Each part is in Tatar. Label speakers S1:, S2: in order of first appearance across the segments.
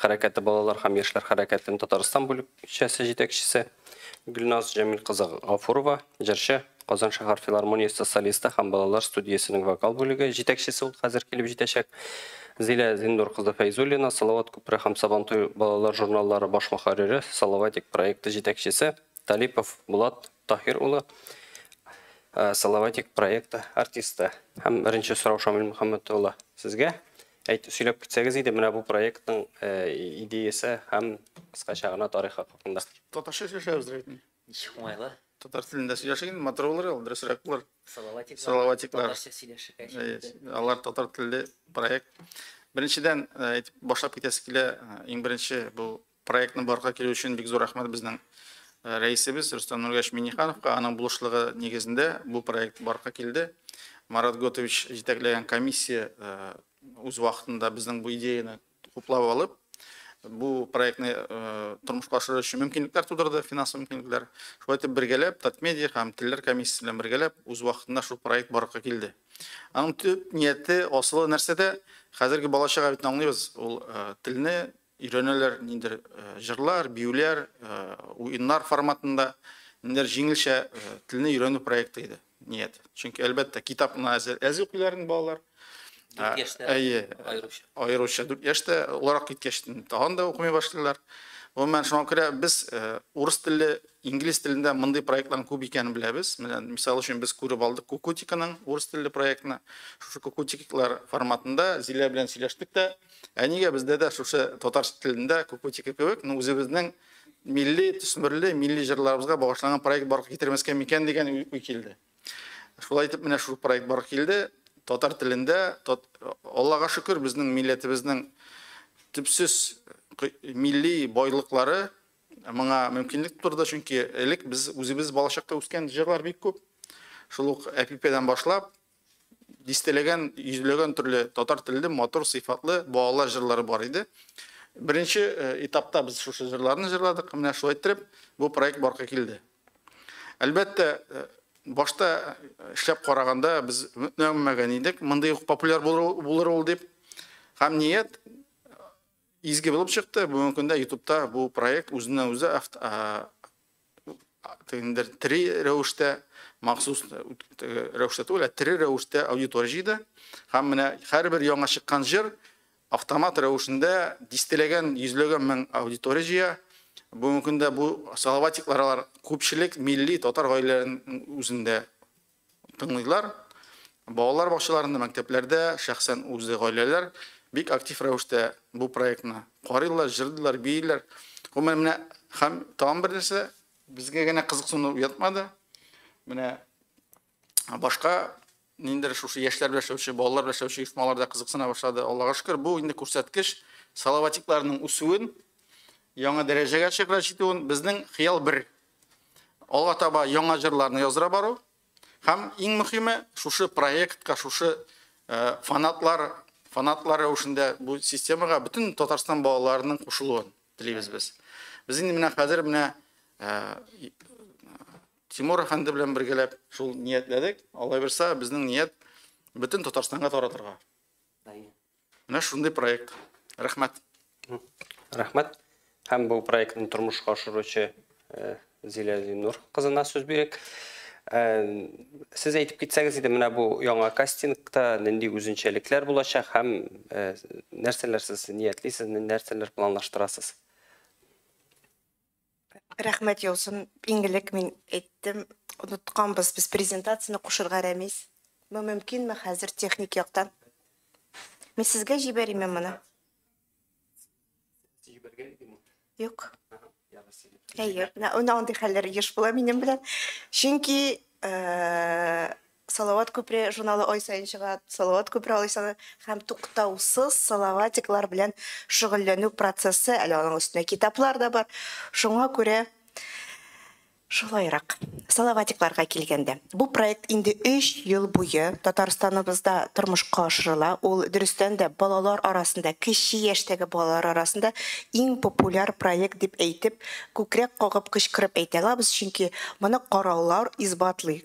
S1: хәрәкәте балалар һәм яшьләр хәрәкәтен Татарстан бүлекчәсе җитәкчесе Гөлназ Җәмил кызы Гафурова, җырчы, Казан шәһәр филармониясе солисты һәм балалар студиясенең вокал бүлеге җитәкчесе ул хәзер килеп җитәчәк. Зилә Зиндур кызы Фәйзуллина, Салават күпере һәм Сабантуй балалар журналлары баш мөхәррире, Салаватик проекты җитәкчесе Талипов Булат Таһир улы, Салаватик проекты артисты. Һәм беренче сорау Шамил Мөхәммәт улы, сезгә. Әйт, сөйләп китсәгез иде, менә бу проектның идеясе һәм кыскача гына тарихы хакында. Татарча сөйләшәбез
S2: рәйтме? Ничек уңайлы.
S3: Татар телендә сөйләшик
S2: инде, матур булыр ул, дөресрәк булыр. Салаватик. Салаватиклар.
S3: Татарча сөйләшергә.
S2: Алар татар телле проект. Беренчедән, әйтеп башлап китәсе килә, иң беренче бу Проектны барлыкка килү өчен бик зур рәхмәт безнең рәисебез Рөстәм Нургәш Миннехановка. Аның булышлыгы нигезендә бу проект барлыкка килде. Марат Готович җитәкләгән комиссия үз вакытында безнең бу идеяне хуплап алып, бу проектны тормышка ашыру өчен мөмкинлекләр тудырды, финанс мөмкинлекләр. Шулай итеп, бергәләп Татмедиа һәм Телләр комиссиясе белән бергәләп үз вакытында шул проект барлыкка килде. Аның төп нияте, асылы нәрсәдә? Хәзерге бала-чага бит аңлыйбыз, ул телне Өйрәнәләр ниндер җырлар, биюләр, уеннар форматында, ниндер җиңелчә телне өйрәнү проекты иде ният. Чөнки әлбәттә китапны әз укыйлар инде балалар. 4 яшьтә. Әйе. Аеруча. Аеруча 4 яшьтә олырак киткәч тагын да укымый башлыйлар. Гомумән шуңа күрә без урыс телле, инглиз телендә мондый проектларның күп икәнен беләбез. Менә мисал өчен без күреп алдык Кукутиканың урыс телле проектны. Шушы Кукутиклар форматында Зилә белән сөйләштек тә, Ә нигә бездә дә шушы татар телендә Кукутики кебек, ну үзебезнең милли төсмерле, милли җырларыбызга багышланган проект барлыкка китермәскә микән дигән уй килде. Шулай итеп менә шул проект барлыкка килде. Татар телендә, тот... Аллага шөкер, безнең милләтебезнең төпсез милли байлыклары моңа мөмкинлек турды, чөнки элек без үзебез балачакта үскән җырлар бик күп. Шул ук әпипедән башлап, дистәләгән, йөзләгән төрле татар телле матур сыйфатлы балалар җырлары бар иде. Беренче э, этапта без шушы җырларны җырладык. Менә шулай иттереп бу проект барка килде. Әлбәттә, э, башта э, эшләп караганда без үтмәгән идек. Мондый ук популяр булыр ул дип. Һәм ният Изге булып чыкты. Бүгенге көндә Ютубта бу проект үзеннән үзе тендер три рәвештә махсус рәвештә түгел, три рәвештә аудитория җыйды. Һәм менә һәрбер яңа чыккан җыр автомат рәвешендә дистәләгән, йөзләгән мең аудитория җыя. Бүгенге көндә бу салаватиклар алар күпчелек милли татар гаиләләренең үзендә тыңлыйлар. Балалар бакчаларында, мәктәпләрдә, шәхсән үзе гаиләләр бик актив рәвештә бу проектны карыйлар, җырлыйлар, бииләр. Гомумән, менә һәм тагын бер нәрсә, безгә генә кызыксыну уятмады. Менә башка ниндидер шушы яшьләр белән эшләүче, балалар белән эшләүче оешмалар да кызыксына башлады. Аллага шөкер, бу инде күрсәткеч Салаватикларның үсүен, яңа дәрәҗәгә чыгара җитүен, безнең хыял бер, Алга таба яңа җырларны яздыра бару һәм иң мөхиме шушы проектка, шушы фанатлар, фанатлар рәвешендә бу системага бөтен Татарстан балаларының кушылуын телибез без. Без инде менә хәзер менә Тимур әфәнде белән бергәләп шул ниятләдек. Алай булса, безнең ният бөтен Татарстанга таратырга. Менә шундый проект. Рәхмәт.
S1: Рәхмәт. Һәм бу проектны тормышка ашыручы э, Зилә Зиннур кызына сүз бирик. Э, сез әйтеп китсәгез иде, менә бу яңа кастингта нинди үзенчәлекләр булачак һәм э, нәрсәләр сез ниятлисез, нәрсәләр планлаштырасыз?
S4: Рәхмәт яусын, иң элек мин әйттем, онытканбыз без презентацияне кушырга, Рәмис. Бу мөмкинме хәзер техник яктан? Мин сезгә җибәриме моны? Җибәргән идеме? Юк. Әйе, менә андый хәлләр еш була минем белән. Чөнки Салават күпре журналы ай саен чыга. Салават күпре алай саны һәм туктаусыз салаватиклар белән шөгыльләнү процессы, әле аның өстенә китаплар да бар. Шуңа күрә шулайрак. Салаватикларга килгәндә, бу проект инде өч ел буе Татарстаныбызда тормышка ашырыла. Ул, дөрестән дә, балалар арасында, кече яшьтәге балалар арасында иң популяр проект дип әйтеп, күкрәк кагып кычкырып әйтә алабыз, чөнки моны караулар исбатлый.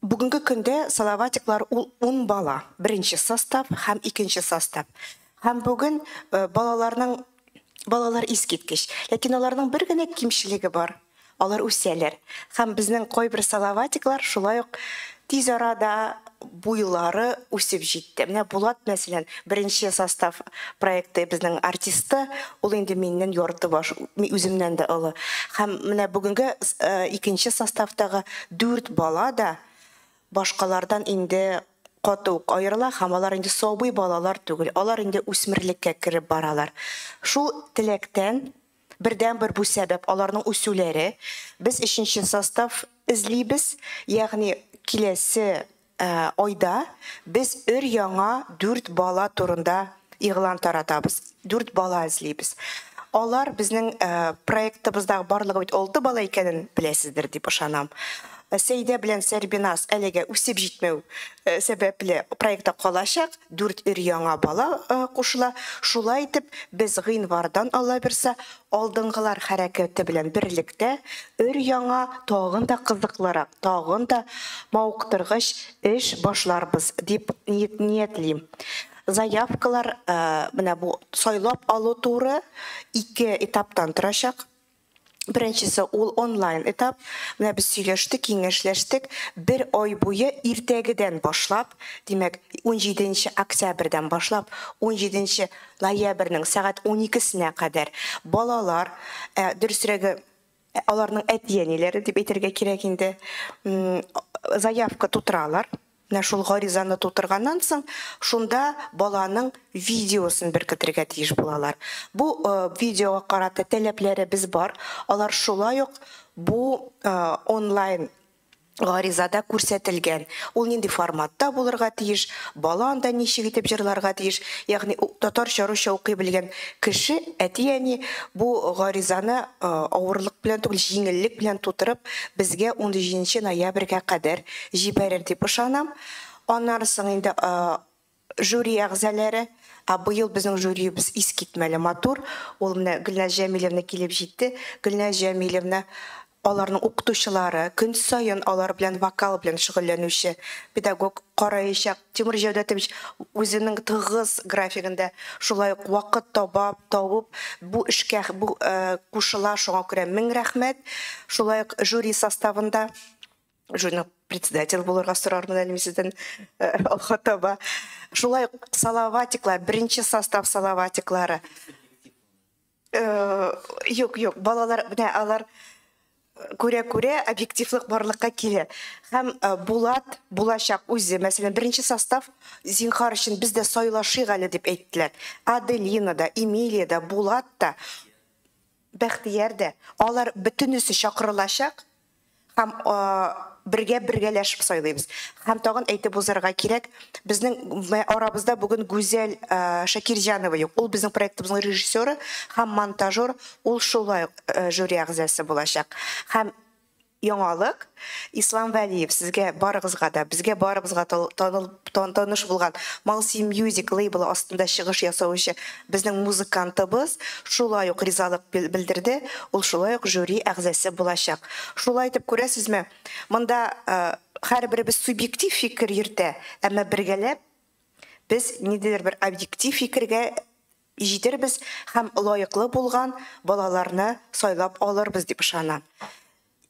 S4: Бүгенге көндә Салаватиклар ул ун бала, беренче состав һәм икенче состав. Һәм бүген балаларның балалар искиткеч. Ләкин аларның бер генә кимчелеге бар, алар үсәләр. Һәм безнең кайбер Салаватиклар шулай ук тиз арада буйлары үсеп җитте. Менә Булат, мәсәлән, беренче состав проекты безнең артисты, ул инде миннән ярты баш, үземнән дә олы. Һәм менә бүгенге икенче составтагы Дүрт бала да башкалардан инде каты ук аерыла һәм алар инде сабый балалар түгел, алар инде үсмерлеккә кереп баралар. Шул теләктән, бердәнбер бу сәбәп, аларның үсүләре. Без өченче состав эзлибез, ягъни киләсе Айда без өр-яңа дүрт бала турында игълан таратабыз. Дүрт бала эзлибез. Алар безнең проектыбыздагы барлыгы бит алты бала икәнен беләсездер дип ышанам. Сәйдә белән Сәрбиназ әлегә үсеп җитмәү сәбәпле проектта калачак. Дүрт өр-яңа бала кушыла. Шулай итеп, без гыйнвардан, Аллабирса, Алдынгылар хәрәкәте белән берлектә өр-яңа, тагын да кызыклырак, тагын да мавыктыргыч эш башларбыз дип ниятлим. Заявкалар менә бу сайлап алу туры ике этаптан торачак. Беренчесе ул онлайн этап. Менә без сөйләштек, киңәшләштек. Бер ай буе иртәгедән башлап, димәк, унҗиденче октябрьдән башлап, унҗиденче Ноябрьнең сәгать уникесенә кадәр балалар, ә, дөресрәге, аларның әти-әниләре дип әйтергә кирәк инде, заявка тутыралар. Менә шул гаризаны тутырганнан соң, шунда баланың видеосын беркетергә тиеш булалар. Бу видеога карата таләпләребез бар. Алар шулай ук бу онлайн Гаризада күрсәтелгән. Ул нинди форматта булырга тиеш, бала анда ничек итеп җырларга тиеш, ягъни татарча-русча укый белгән кеше, әти-әни бу гаризаны авырлык белән түгел, җиңеллек белән тутырып, безгә унҗиденче ноябрьгә кадәр җибәрер дип ышанам. Аннары соң инде Жюри әгъзаләре, Ә быел безнең жюриебез искитмәле матур. Ул менә Гөлназ Җәмилевна килеп җитте. Гөлназ Җәмилевна, аларның укытучылары, көн саен алар белән вокал белән шөгыльләнүче педагог караячак. Тимур Җәүдәтович үзенең тыгыз графигында шулай ук вакыт таба, табып бу эшкә кушыла, шуңа күрә мең рәхмәт. Шулай ук жюри составында Журнал председатель булырга сорармын әле сездән алга таба. Шулай салаватиклар, беренче состав салаватиклары. Юк, юк, балалар, менә алар күрә-күрә объективлык барлыкка килә. Һәм Булат, булачак үзе, мәсәлән, беренче состав, зинхар өчен, без дә сайлашыйк әле дип әйттеләр. Аделина да, Эмилия да, Булат та, Бәхтияр дә, алар бөтенесе чакырылачак. Һәм бергә бергәләшеп сайлыйбыз. Һәм тагын әйтеп узарга кирәк, безнең арабызда бүген Гүзәл Шакирҗанова юк. Ул безнең проектыбызның режиссеры һәм монтажер, ул шулай ук жюри әгъзасы булачак. Һәм яңалык, Ислам Вәлиев, сезгә барыгызга да, безгә барыбызга таныш булган Малсимьюзик лейблы астында чыгыш ясаучы Безнең музыкантыбыз шулай ук ризалык белдерде, ул шулай ук жюри әгъзасе булачак. Шулай итеп, күрәсезме, монда һәрберебез субъектив фикер йөртә, әмма бергәләп без ниндидер бер объектив фикергә җитербез һәм лаеклы булган балаларны сайлап алырбыз дип ышанам.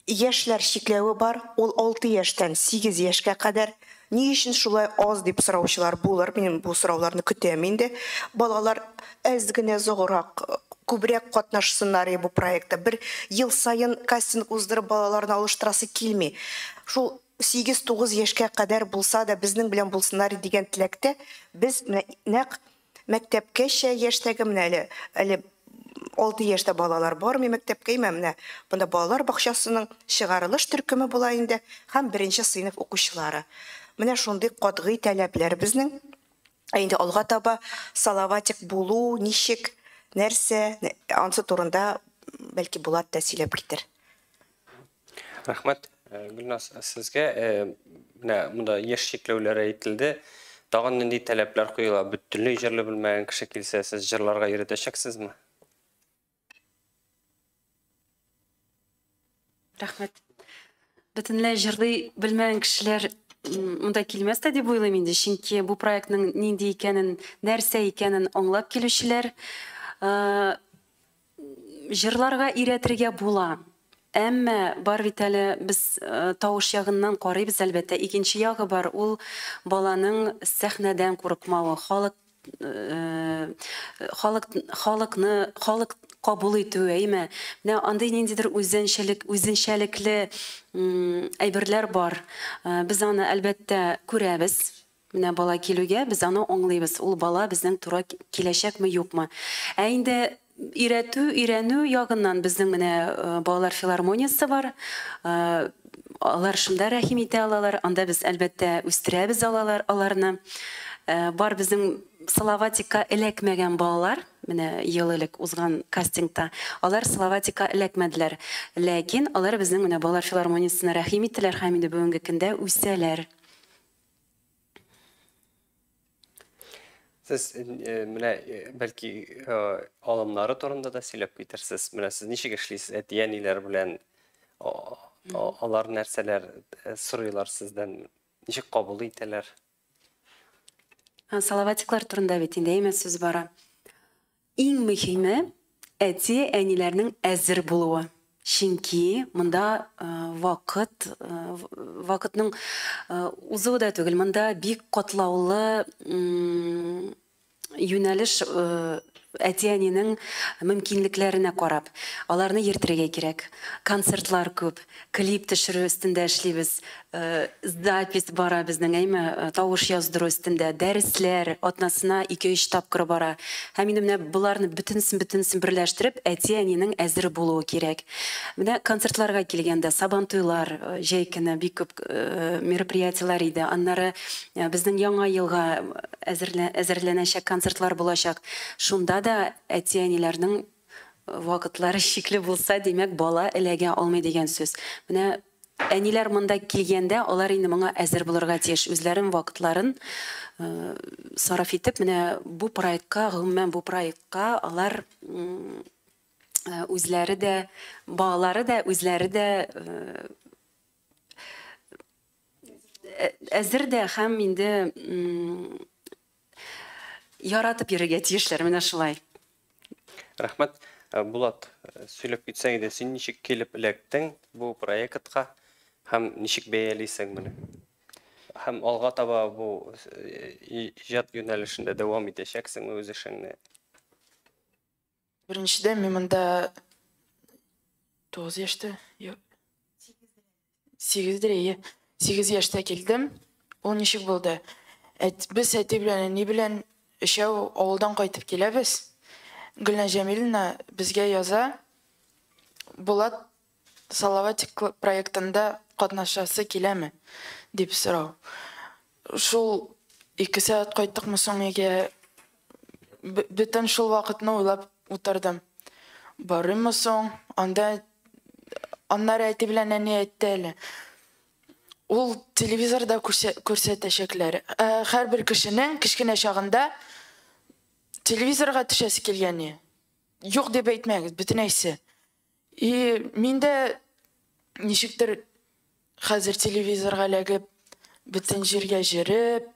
S4: Яшьләр чикләве бар, ул алты яшьтән сигез яшькә кадәр. Ни өчен шулай аз дип сораучылар булыр, мин бу сорауларны көтәм инде. Балалар әз генә зограк, күбрәк катнашсыннар иде бу проектта. Бер ел саен кастинг уздырып балаларны алыштырасы килми. Шул сигез-тугыз яшькә кадәр булса да, безнең белән булсыннар иде дигән теләктә без менә нәкъ Мәктәпкәчә яшьтәге менә әле, әле алты яшьтә балалар бармый мәктәпкә, имә менә монда балалар бакчасының чыгарылыш төркеме була инде һәм беренче сыйныф укучылары. Менә шундый катгый таләпләр безнең. Ә инде алга таба Салаватик булу ничек, нәрсә, ансы турында бәлки Булат та сөйләп китер.
S1: Рәхмәт, Гөлназ, сезгә. Менә монда яшь чикләүләре әйтелде. Тагын нинди таләпләр куела? Бөтенләй җырлый белмәгән кеше килсә, сез җырларга өйрәтәчәксезме?
S5: Рәхмәт. Бөтенләй җырлый белмәгән кешеләр монда килмәс тә дип уйлыйм инде, чөнки бу проектның нинди икәнен, нәрсә икәнен аңлап килүчеләр Җырларга өйрәтергә була. Әмма бар бит әле, без тавыш ягыннан карыйбыз, әлбәттә. Икенче ягы бар, ул баланың сәхнәдән курыкмавы, халык халык халыкны халык кабул итүе, әйме. Менә андый ниндидер үзенчәлек, үзенчәлекле әйберләр бар. Без аны, әлбәттә, күрәбез. Менә бала килүгә, без аны аңлыйбыз, ул бала безнең тура киләчәкме, юкмы. Ә инде өйрәтү, өйрәнү ягыннан безнең менә балалар филармониясе бар. Алар шунда рәхим итә алалар, анда без, әлбәттә, үстерәбез алалар, аларны. Бар безнең Салаватикка эләкмәгән балалар, менә ел элек узган кастингта, алар Салаватикка эләкмәделәр. Ләкин алар безнең менә балалар филармониясенә рәхим иттеләр һәм инде бүгенге көндә үсәләр.
S1: Сез э, э, менә э, бәлки алымнары турында да сөйләп китерсез. Менә сез ничек эшлисез әти-әниләр белән? Алар нәрсәләр сорыйлар сездән? Ничек кабул итәләр?
S5: Салаватиклар турында бит инде әйме сүз бара. Иң мөһиме, әти, әниләрнең әзер булуы. Чөнки монда вакыт, вакытның узуы да түгел, монда бик катлаулы юнәлеш әти, әнинең мөмкинлекләренә карап, аларны йөртергә кирәк. Концертлар күп, Клип төшерү өстендә эшлибез. Запись бара безнең, әйме, тавыш яздыру өстендә. Дәресләр атнасына ике-өч тапкыр бара. Һәм инде менә боларны бөтенесен-бөтенесен берләштереп, әти-әнинең әзер булуы кирәк. Менә концертларга килгәндә, Сабантуйлар, җәй көне бик күп мероприятиеләр иде. Аннары безнең Яңа елга әзерләнәчәк концертлар булачак. Шунда да әти-әниләрнең Вакытлары чикле булса, димәк, бала эләгә алмый дигән сүз. Менә әниләр монда килгәндә, алар инде моңа әзер булырга тиеш. Үзләрен, вакытларын сарыф итеп, менә бу проектка, гомумән, бу проектка алар үзләре дә, балалары да, үзләре дә әзер дә һәм инде Яратып йөрергә тиешләр менә шулай.
S1: Рәхмәт. Булат, сөйләп китсәң иде, син ничек килеп эләктең бу проектка һәм ничек бәялисең моны? Һәм алга таба бу иҗат юнәлешендә дәвам итәчәксеңме үз эшеңне?
S6: Беренчедән, мин монда 9 яшьтә, 8 дирәе, 8 яшьтә килдем. Ул ничек булды? Әт, без әти белән әни белән өчәү авылдан кайтып киләбез. Гөлнә Җәмиловна безгә яза, Булат Салаватик проектында катнашасы киләме? дип сорау. Шул ике сәгать кайттыкмы соң өйгә? Бөтен шул вакытны уйлап утырдым. Барыйммы соң анда? Аннары әти белән әни әйтте әле. Ул телевизорда күрсәтәчәкләр. Ә һәрбер кешенең кечкенә чагында телевизорга төшәсе килгәне юк дип әйтмәгез, бөтенәйсе. И мин дә ничектер хәзер телевизорга эләгеп, бөтен җиргә җөреп,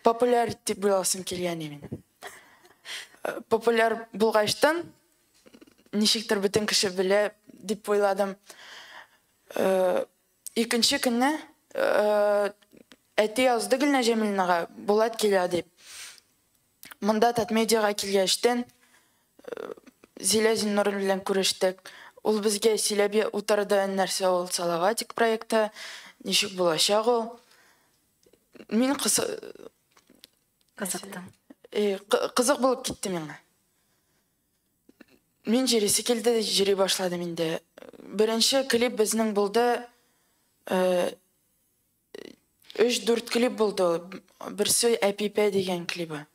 S6: популяр дип буйласым килгән иде минем. Э, популяр булгачтан, ничектер бөтен кеше белә дип уйладым. Э, икенче көнне э, әти язды Гөлнәҗәмилнага, Булат килә дип. Монда Татмедиага килгәчтен Зилә Зиннурова белән күрештек. Ул безгә сөйләп утырды, нәрсә ул Салаватик проекты, ничек булачак ул. Мин кызы... Кызыктым. Э, кызык булып китте миңа. Мин җырисе килде, җыри башладым инде. Беренче клип безнең булды. Э, Өч-дүрт клип булды ул. Берсе Әпипә дигән клибы.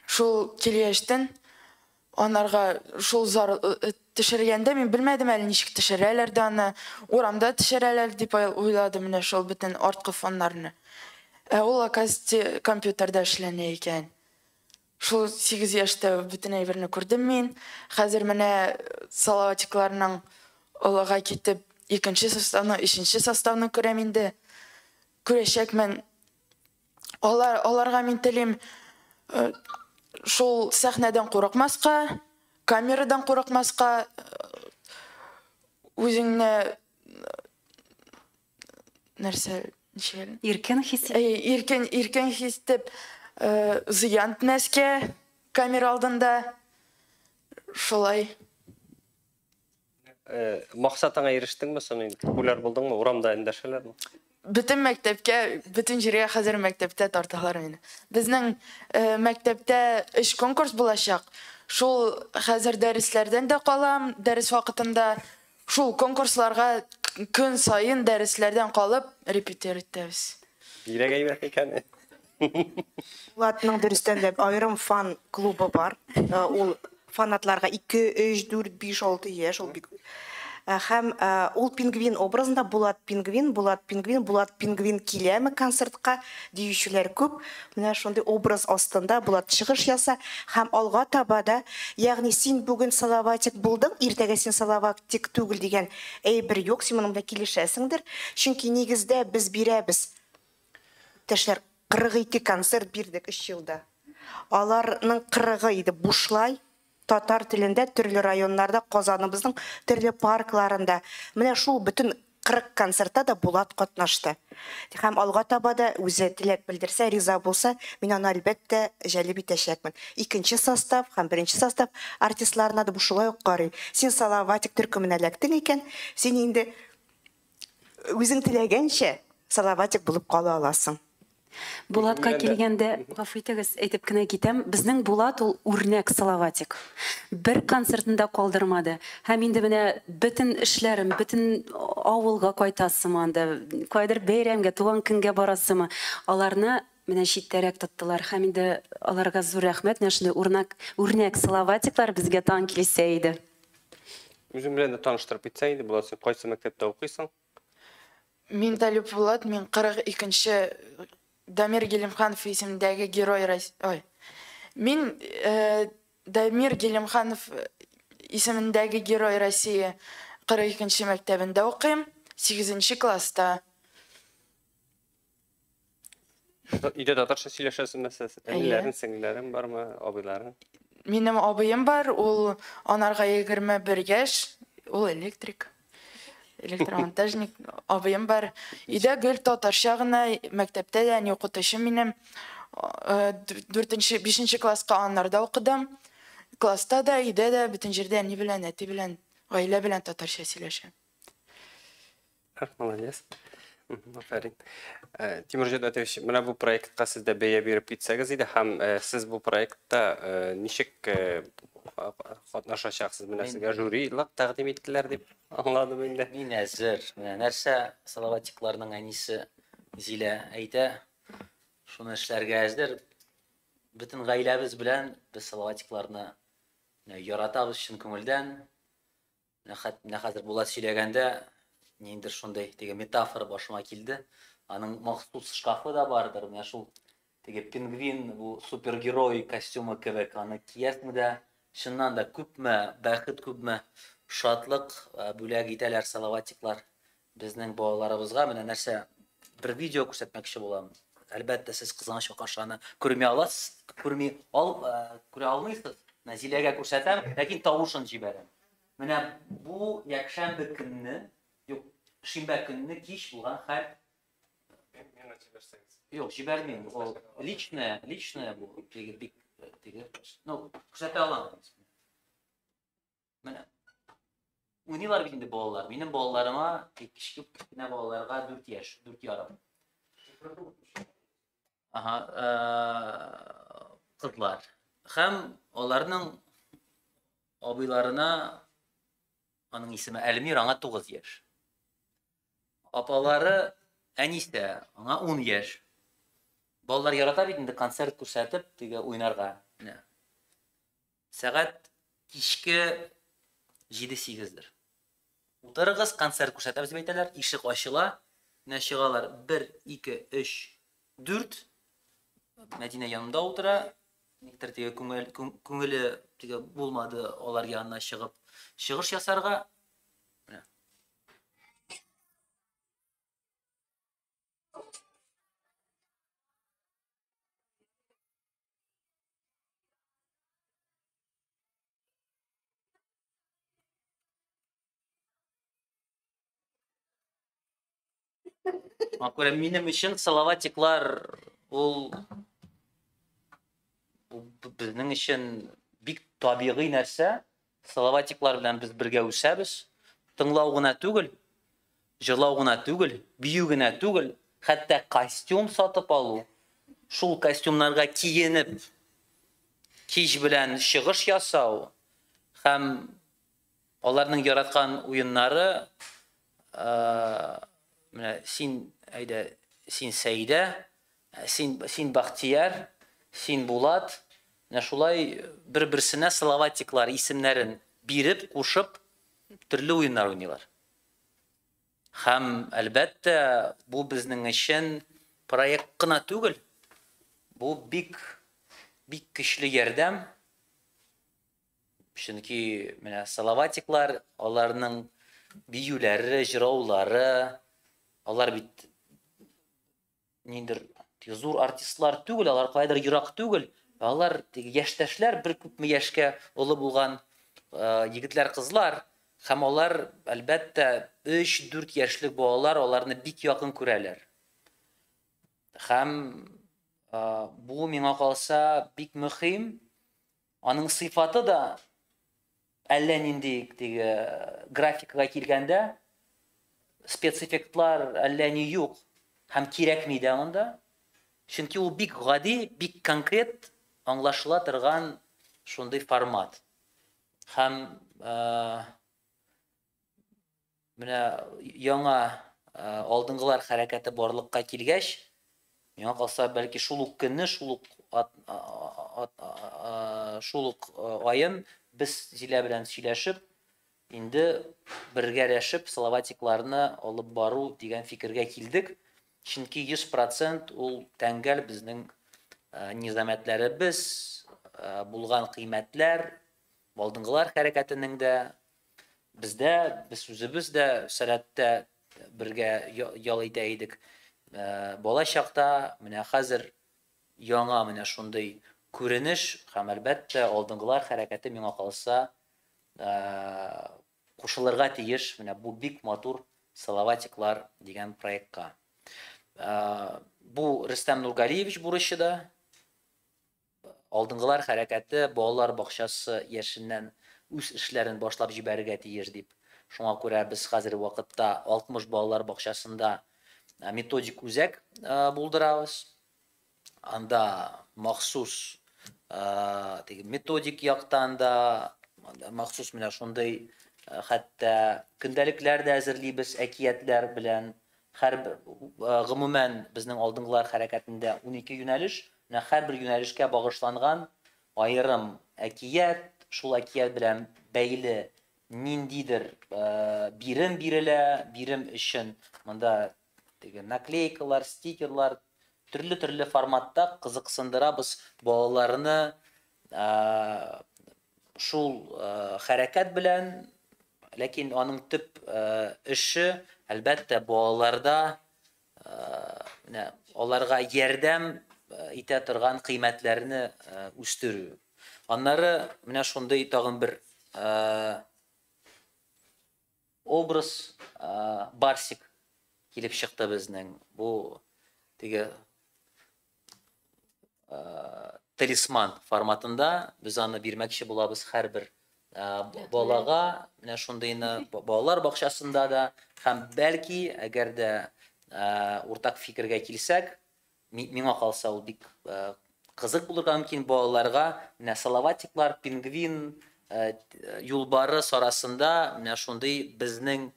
S6: Шул килгәчтен анарга шул зар э, төшергәндә мин белмәдем әле ничек төшерәләр дә аны. Урамда төшерәләр дип уйладым менә шул бөтен арткы фоннарны. Ә ул, оказывается, компьютерда эшләнә икән. Шул сигез яшьтә бөтен әйберне күрдем мин. Хәзер менә Салаватикларның олыга китеп, икенче составны, өченче составны күрәм инде. Күрәчәкмен. Алар, аларга мин телим э, шул сәхнәдән курыкмаска, камерадан курыкмаска, э, үзеңне э, нәрсә ничек иркен хис
S5: иркен иркен
S6: хис итеп зыян итмәскә камера алдында шулай
S1: максатыңа ирештеңме соны популяр булдыңмы урамда эндәшәләрме бөтен
S6: мәктәпкә бөтен җиргә хәзер мәктәптә тарталар мине безнең мәктәптә өч конкурс булачак шул хәзер дәресләрдән дә калам дәрес вакытында Шул конкурсларга көн саен дәресләрдән калып репетир итәбез. Бирәк әйбәт
S1: икән.
S4: Булатның дөрестән дә аерым фан клубы бар. Э, ул фанатларга 2, 3, 4, 5, 6 яшь, ул бик э, һәм э, ул пингвин образында Булат пингвин, Булат пингвин, Булат пингвин киләме концертка диючеләр күп. Менә шундый образ астында Булат чыгыш яса һәм алга таба да, ягъни син бүген Салаватик булдың, иртәгә син Салаватик түгел дигән әйбер юк, син моның белән килешәсеңдер. Чөнки нигездә без бирәбез. Иптәшләр, 42 концерт бирдек өч елда. Аларның кырыгы иде бушлай. Татар телендә төрле районнарда, Казаныбызның төрле паркларында, менә шул бөтен 40 концертта да Булат катнашты. Һәм алга таба да үзе теләк белдерсә, риза булса, мин аны әлбәттә җәлеп итәчәкмен. Икенче состав һәм беренче состав артистларына да бу шулай ук карый. Син Салаватик төркеменә эләктең икән, син инде Үзең теләгәнчә салаватик булып кала аласың. Булатка
S5: килгәндә, гафу итегез, әйтеп кенә китәм, безнең Булат ул үрнәк салаватик. Бер концертны да калдырмады. Һәм инде менә бөтен эшләрем, бөтен авылга кайтасымы анда, каядыр бәйрәмгә, туган көнгә барасымы, аларны Менә читтәрәк тоттылар һәм инде аларга зур рәхмәт, менә шундый урнак, үрнәк салаватиклар безгә тагын килсә иде. Үзең
S1: белән дә таныштырып китсәң иде, Булат, син кайсы мәктәптә укыйсың?
S6: Мин Талип Булат, мин 42 нче Дамир Гилемханов исемендәге Герой Рос, ой, мин Дамир Гилемханов исемендәге Герой России 42 нче мәктәбендә укыйм, сигезенче класста.
S1: Өйдә татарча сөйләшәсезме сез? Әниләрең, сеңлеләрең бармы, абыйларың? Минем абыем
S6: бар, ул анарга 21 яшь, ул электрик, электромонтажник. Абыем бар. Өйдә гел татарча гына, мәктәптә дә әни укытучы минем. 4-нче, 5-нче класска анарда укыдым. Класста да, өйдә дә, бөтен җирдә әни белән, әти белән, гаилә белән татарча сөйләшәм. Как
S1: молодец. Афәрин. Э, Тимур Җәдәтович, менә бу проектка сез дә бәя биреп китсәгез иде һәм э, сез бу проектта э, ничек катнашачаксыз? Менә сезгә жюрилык тәкъдим иттеләр дип аңладым инде. Мин әзер. Менә
S3: нәрсә Салаватикларның әнисе Зилә әйтә, шуны эшләргә әзер. Бөтен гаиләбез белән без Салаватикларны яратабыз чын күңелдән. Менә хәзер Булат сөйләгәндә, ниндидер шундый теге метафора башыма килде. Аның махсус шкафы да бардыр, менә шул теге пингвин, бу супергерой костюмы кебек, аны киясме дә, чыннан да күпме бәхет, күпме шатлык бүләк итәләр салаватиклар. Безнең балаларыбызга менә нәрсә бер видео күрсәтмәкче булам. Әлбәттә, сез кызганыч каршы аны күрми аласыз, күрми ал, күрә алмыйсыз. Менә Зиләгә күрсәтәм, ләкин тавышын җибәрәм. Менә бу якшәмбе көнне, юк, шимбә көнне кич булган хәл. Миңа җибәрсәгез. Юк, җибәрмим. Ул личное, личное бу. Теге бик теге. Ну, күрсәтә алам. Менә. Уйныйлар бит инде балалар. Минем балаларыма, кечкенә кечкенә балаларга 4 яшь, 4 ярым. Ага, э, кызлар. Хәм аларның абыйларына аның исеме Әлмир, аңа 9 яшь. Апалары Әнисә, аңа 10 яшь. Балалар ярата бит инде концерт күрсәтеп, теге уйнарга. Менә. Сәгать кичке җиде-сигездер. Утырыгыз, концерт күрсәтәбез, дип әйтәләр. Ишек ачыла. Менә чыгалар, бер, ике, өч, дүрт. Мәдинә янында утыра. Никтер теге күңеле теге булмады алар янына чыгып чыгыш ясарга. Шуңа күрә минем өчен салаватиклар ул безнең өчен бик табигый нәрсә. Салаватиклар белән без бергә үсәбез. Тыңлау гына түгел, җырлау гына түгел, бию генә түгел, хәтта костюм сатып алу, шул костюмнарга киенеп кич белән чыгыш ясау һәм аларның яраткан уеннары Менә син, әйдә, син Сәидә, син, син Бахтияр, син Булат. Менә шулай бер-берсенә словатиклар исемнәрен биреп, кушып, төрле уеннар уйныйлар. Һәм, әлбәттә, бу безнең өчен проект кына түгел, бу бик, бик көчле ярдәм. Чөнки менә Салаватиклар, аларның биюләре, җыраулары, алар бит ниндер зур артистлар түгел, алар кайдыр ерак түгел, алар яшьтәшләр, бер күпме яшькә олы булган егетләр, кызлар, һәм алар, әлбәттә, 3-4 яшьлек балалар аларны бик якын күрәләр. Һәм бу миңа калса бик мөһим, Аның сыйфаты да әллә нинди, теге графикага килгәндә, спецэффектлар әллә ни юк һәм кирәкми дә анда. Чөнки ул бик гади, бик конкрет аңлашыла торган шундый формат. Һәм Менә яңа алдынгылар хәрәкәте барлыкка килгәч, миңа калса, бәлки шул ук көнне, шул ук шул ук аен без Зилә белән сөйләшеп, инде бергәләшеп Салаватикларны алып бару дигән фикергә килдек. Чөнки 100% ул тәңгәл безнең низамәтләребез, булган кыйммәтләр, алдынгылар хәрәкәтенең дә Бездә без үзебез дә сәләттә бергә ял итә идек. Э, бала чакта менә хәзер яңа менә шундый күренеш һәм әлбәттә алдынгылар хәрәкәте миңа калса э, кушылырга тиеш менә бу бик матур салаватиклар дигән проектка э, бу рөстәм нургалиевич бурычы да Алдынгылар хәрәкәте балалар бакчасы яшеннән үз эшләрен башлап җибәрергә тиеш дип, шуңа күрә без хәзерге вакытта 60 балалар бакчасында методик үзәк булдырабыз. Анда махсус теге методик яктан да, махсус менә шундый хәтта көндәлекләр дә әзерлибез, әкиятләр белән Хәрб, гомумән, безнең алдынгылар хәрәкәтендә унике юнәлеш, менә һәрбер юнәлешкә багышланган аерым әкият, шул әкият белән бәйле ниндидер бирем бирелә, бирем өчен монда теге наклейкалар, стикерлар, төрле-төрле форматта кызыксындырабыз балаларны, Шул хәрәкәт белән, ләкин аның төп эше, әлбәттә, балаларда менә аларга ярдәм итә торган кыйммәтләрне үстерү. Аннары менә шундый тагын бер Образ Барсик килеп чыкты безнең. Бу теге талисман форматында без аны бирмәкче булабыз һәрбер балага, менә шундыйны балалар бакчасында да һәм бәлки, әгәр дә уртак фикергә килсәк, Миңа калса, ул бик кызык булырга мөмкин балаларга. Менә салаватиклар, пингвин, юлбарыс арасында менә шундый безнең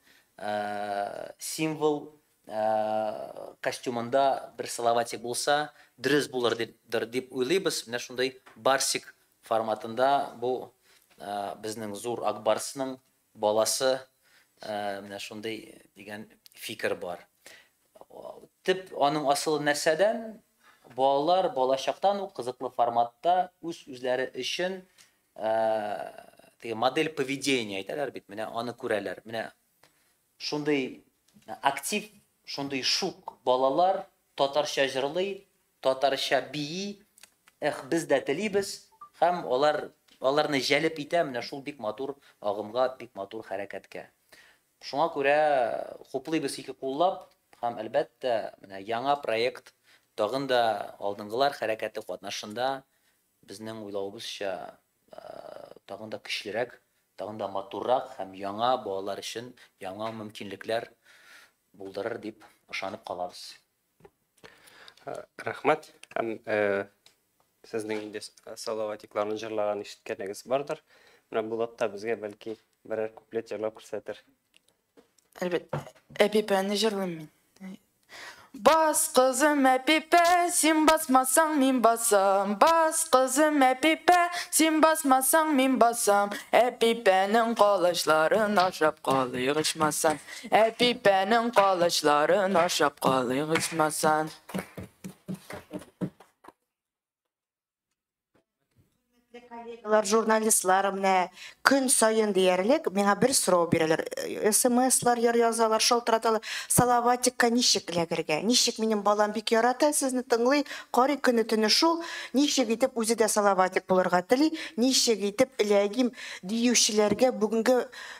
S3: символ костюмында бер салаватик булса, дөрес булыр дип дип уйлыйбыз. Менә шундый барсик форматында бу безнең зур ак барсның Баласы менә шундый дигән фикер бар. Төп аның асылы нәрсәдән? Балалар балачактан ук кызыклы форматта үз-үзләре өчен теге модель поведения әйтәләр бит, менә аны күрәләр. Менә шундый актив, шундый шук балалар татарча җырлый, Татарча бии, эх, без дә телибез, һәм алар аларны җәлеп итә менә шул бик матур агымга, бик матур хәрәкәткә. Шуңа күрә хуплыйбыз ике куллап һәм, әлбәттә, менә яңа проект тагын да алдынгылар хәрәкәте катнашында безнең уйлавыбызча тагын да көчлерәк, тагын да матуррак һәм яңа балалар өчен яңа мөмкинлекләр булдырыр дип ышанып калабыз.
S1: Рәхмәт. Һәм сезнең инде салаватикларны җырлаган ишеткәнегез бардыр. Менә Булат та безгә бәлки берәр куплет җырлап күрсәтер.
S6: Әлбәттә. Әпипәне җырлыйм мин. Бас, кызым, әпипә, син басмасаң, мин басам. Бас, кызым, әпипә, син басмасаң, мин басам. Әпипәнең калачларын ашап калыйк, ичмасам. Әпипәнең калычларын ашап калыйк ичмасан.
S4: коллегалар, журналистлар менә көн саен диярлек миңа бер сорау бирәләр. Э, СМСлар яр язалар, шалтыраталар. Салаватикка ничек эләгергә? Ничек минем балам бик ярата сезне тыңлый, карый көне төне шул. Ничек итеп үзе дә салаватик булырга тели? Ничек итеп эләгим диючеләргә бүгенге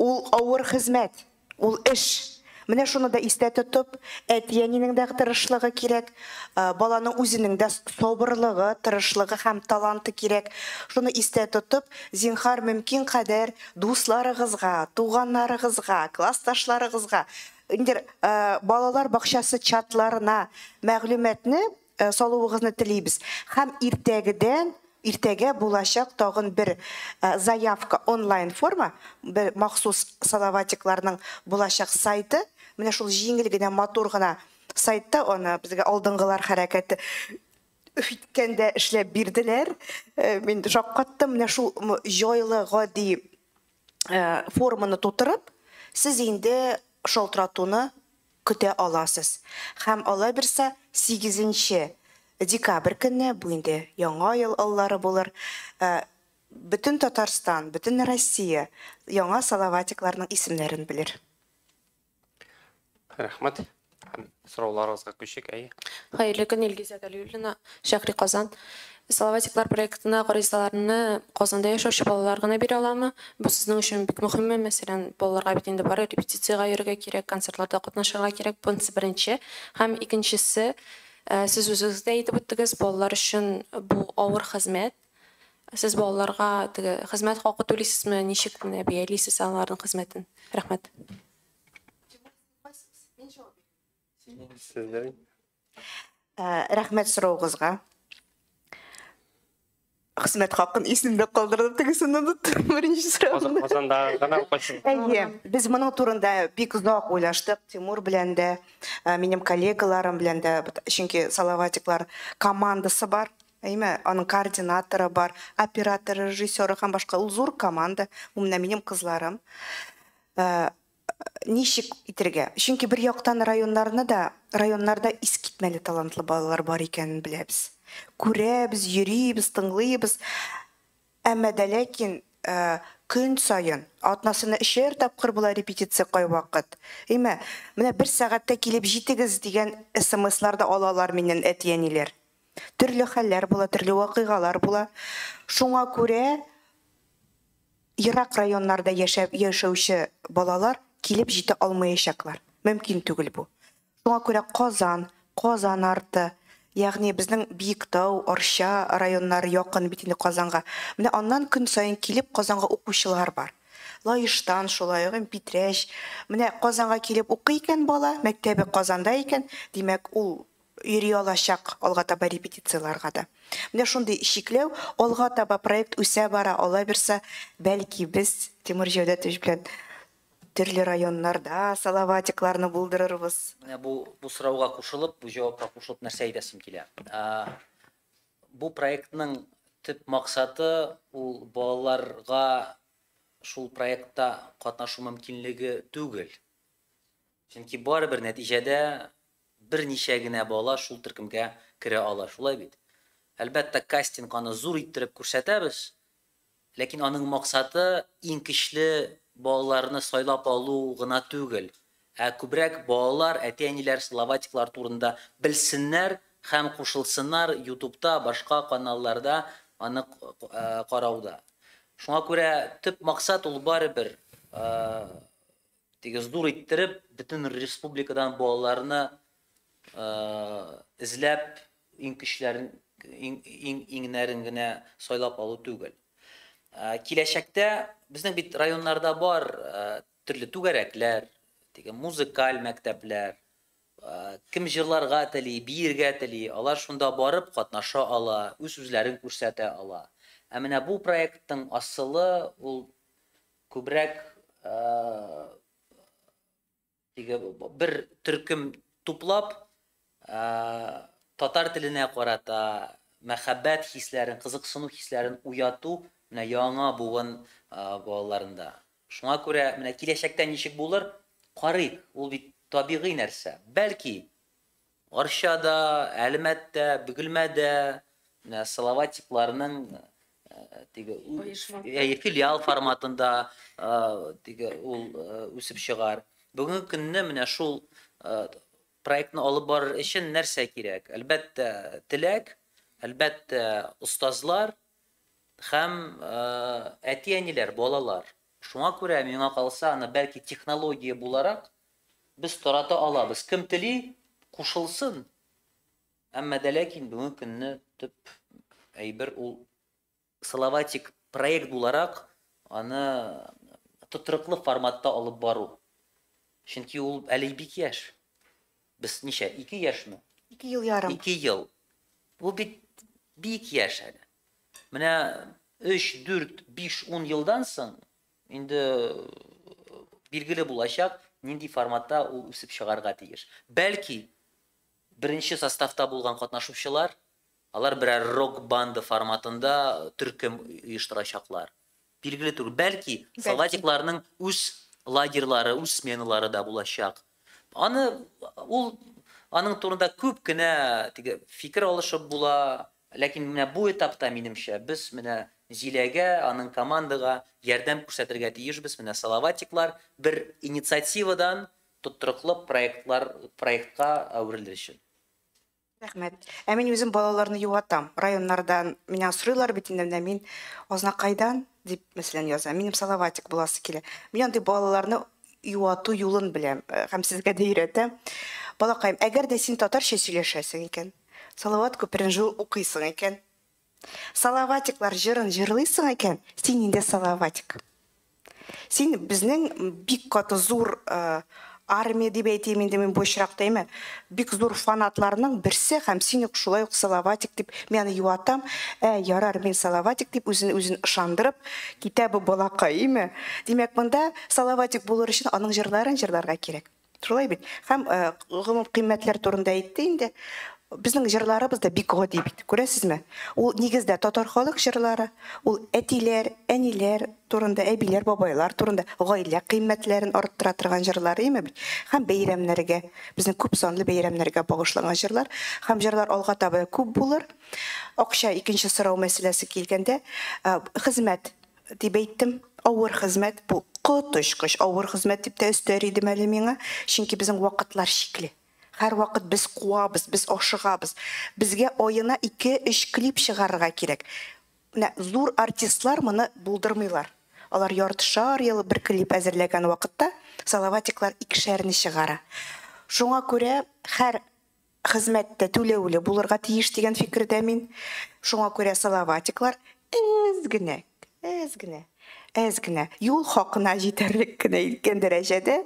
S4: Ул авыр хезмәт, ул эш. Менә шуны да истә тотып, әти-әнинең дә тырышлыгы кирәк, баланың үзенең дә сабырлыгы, тырышлыгы һәм таланты кирәк. Шуны истә тотып, зинһар, мөмкин кадәр дусларыгызга, туганнарыгызга, классташларыгызга, инде балалар бакчасы чатларына мәгълүматны Э, салуыгызны телибез һәм иртәгедән иртәгә булачак тагын бер э, заявка онлайн форма бер махсус салаватикларның булачак сайты менә шул җиңел генә матур гына сайтта аны безгә алдынгылар хәрәкәте үткәндә эшләп бирделәр э, мин шаккаттым менә шул җайлы гади форманы тутырып сез инде шалтыратуны көтә аласыз. Һәм алай берса сигезенче декабрь көнне, бу инде яңа ел аллары булыр, бөтен Татарстан, бөтен Россия яңа Салаватикларның исемнәрен белер.
S1: Рәхмәт. Һәм сорауларыгызга күчик, әйе. Хәерле көн, Илгизә
S7: Галиуллина, Шәһри Казан. Салаватиклар проектына гаризаларны Казанда яшәүче балалар гына бирә аламы? Бу сезнең өчен бик мөһимме? Мәсәлән, балаларга бит инде бары репетициягә йөрергә кирәк, концертларда катнашырга кирәк. Бунсы беренче. Һәм икенчесе, сез үзегез дә әйтеп үттегез, балалар өчен бу авыр хезмәт. Сез балаларга теге хезмәт хакы түлисезме, ничек менә бәялисез аларның хезмәтен? Рәхмәт.
S4: Сезнең? Ә, рәхмәт сораугызга. Хезмәт хакын исемдә калдырдым, тегесен оныттым, беренче сорауны. Казанда гына
S1: укыйсың. Әйе, без моның
S4: турында бик озак уйлаштык Тимур белән дә, ә, минем коллегаларым белән дә, бит- чөнки Салаватиклар командасы бар, әйме, аның координаторы бар, операторы, режиссеры һәм башка. Ул зур команда, ул менә минем кызларым. Ә, Ничек итергә? Чөнки бер яктан районнарны да, районнарда искитмәле талантлы балалар бар икәнен беләбез. Күрәбез, йөрибез, тыңлыйбыз. Әмма дә ләкин көн саен, атнасына өчәр тапкыр була репетиция кайвакыт. Әйме, менә бер сәгатьтә килеп җитегез дигән смслар да алалар миннән әти-әниләр. Төрле хәлләр була, төрле вакыйгалар була. Шуңа күрә Ерак районнарда яшәп яшәүче балалар килеп җитә алмаячаклар. Мөмкин түгел бу. Шуңа күрә Казан, Казан арты, ягъни безнең Биектау, Арча районнары якын бит инде Казанга. Менә аннан көн саен килеп Казанга укучылар бар. Лаештан шулай ук, м Питрәч. Менә Казанга килеп укый икән бала, мәктәбе Казанда икән, димәк, ул йөри алачак алга таба репетицияләргә дә. Менә шундый чикләү, алга таба проект үсә бара, алай берса, бәлки, без Тимур Җәүдәтович белән төрле районнарда Салаватикларны булдырырбыз. Менә бу бу
S3: сорауга кушылып, бу җавапка кушылып нәрсә әйтәсем килә. Бу проектның төп максаты ул балаларга шул проектта катнашу мөмкинлеге түгел. Чөнки барыбер нәтиҗәдә берничә генә бала шул төркемгә керә ала, шулай бит? Әлбәттә, кастинг аны зур иттереп күрсәтәбез, ләкин аның максаты иң көчле балаларны сайлап алу гына түгел, ә күбрәк балалар, әти-әниләр Салаватиклар турында белсеннәр һәм кушылсыннар Ютубта, башка каналларда аны карауда. Шуңа күрә төп максат ул барыбер Теге зур иттереп бөтен республикадан балаларны эзләп иң көчләрен иң иңнәрен генә сайлап алу түгел. Киләчәктә безнең бит районнарда бар төрле түгәрәкләр, теге музыкаль мәктәпләр, кем җырларга тели, биергә тели, алар шунда барып катнаша ала, үз-үзләрен күрсәтә ала. Ә менә бу проекттың асылы ул Күбрәк теге бер төркем туплап татар теленә карата мәхәббәт хисләрен, кызыксыну хисләрен уяту менә яңа буын балаларында. Шуңа күрә менә киләчәктә ничек булыр, карыйк, ул бит табигый нәрсә. Бәлки Арчада, Әлмәттә, Бөгелмәдә Салаватикларның теге филиал форматында теге ул үсеп чыгар. Бүгенге көнне менә шул проектны алып барыр өчен нәрсә кирәк? Әлбәттә, теләк, әлбәттә, остазлар һәм әти-әниләр, балалар. Шуңа күрә миңа калса, аны бәлки технология буларак Без тарата алабыз, кем тели, кушылсын. Әмма дә ләкин бүгенге көнне төп әйбер ул Салаватик проект буларак аны тотрыклы форматта алып бару. Чөнки ул әле бик яшь. Без ничә, ике яшьме? Ике ел ярым. Ике
S4: ел.
S3: Бу бит бик яшь әле. Менә өч, дүрт, биш, ун елдан соң Инде билгеле булачак, нинди форматта ул үсеп чыгарга тиеш. Бәлки, беренче составта булган катнашучылар, алар берәр рок-банда форматында төркем оештырачаклар. Билгеле түгел. Бәлки, солдатикларның үз лагерьлары, үз сменалары да булачак. Аны ул аның турында күп кенә теге фикер алышып була, Ләкин менә бу этапта, минемчә, без менә Зиләгә, аның командага ярдәм күрсәтергә тиешбез, менә Салаватиклар бер инициативадан тотрыклы проектлар проектка әверелер өчен. Рәхмәт.
S4: Ә мин үзем балаларны юатам. Районнардан меня сорыйлар бит инде, менә мин Азнакайдан, дип, мәсәлән, яза. Минем Салаватик буласы килә. Мин андый балаларны юату юлын беләм һәм сезгә дә өйрәтәм. Балакаем, әгәр дә син татарча сөйләшәсең икән, Салават күперен жыл укыйсың икән. Салаватиклар җырын җырлыйсың икән, син инде салаватик. Син безнең бик каты зур армия дип әйтим инде мин бу очракта әйме, бик зур фанатларның берсе һәм син ук шулай ук салаватик дип мин аны юатам. Ә, ярар, мин салаватик дип үзен үзен ышандырып китә бу балакай, әйме. Димәк, монда салаватик булыр өчен аның җырларын җырларга кирәк. Шулай бит. Һәм гомум кыйммәтләр турында әйтте инде. Безнең җырларыбыз да бик гади бит. Күрәсезме? Ул нигездә татар халык җырлары, ул әтиләр, әниләр турында, әбиләр, бабайлар турында гаилә кыйммәтләрен арттыра торган җырлар, име бит? Һәм бәйрәмнәргә, безнең күп санлы бәйрәмнәргә багышланган җырлар. Һәм җырлар алга таба да күп булыр. Акча икенче сорау мәсьәләсе килгәндә, хезмәт Дип әйттем. Авыр хезмәт бу, коточкыч авыр хезмәт, дип тә өстәр идем әле миңа, чөнки безнең вакытлар чикле. Һәрвакыт без куабыз, без ашыгабыз. Безгә аена ике-өч клип чыгарырга кирәк. Менә зур артистлар моны булдырмыйлар. Алар яртышар ел бер клип әзерләгән вакытта, Салаватиклар икешәрне чыгара. Шуңа күрә һәр Хезмәт тә түләүле булырга тиеш дигән фикердә мин. Шуңа күрә салаватиклар әз генә, әз генә, әз генә, юл хакына җитәрлек кенә иткән дәрәҗәдә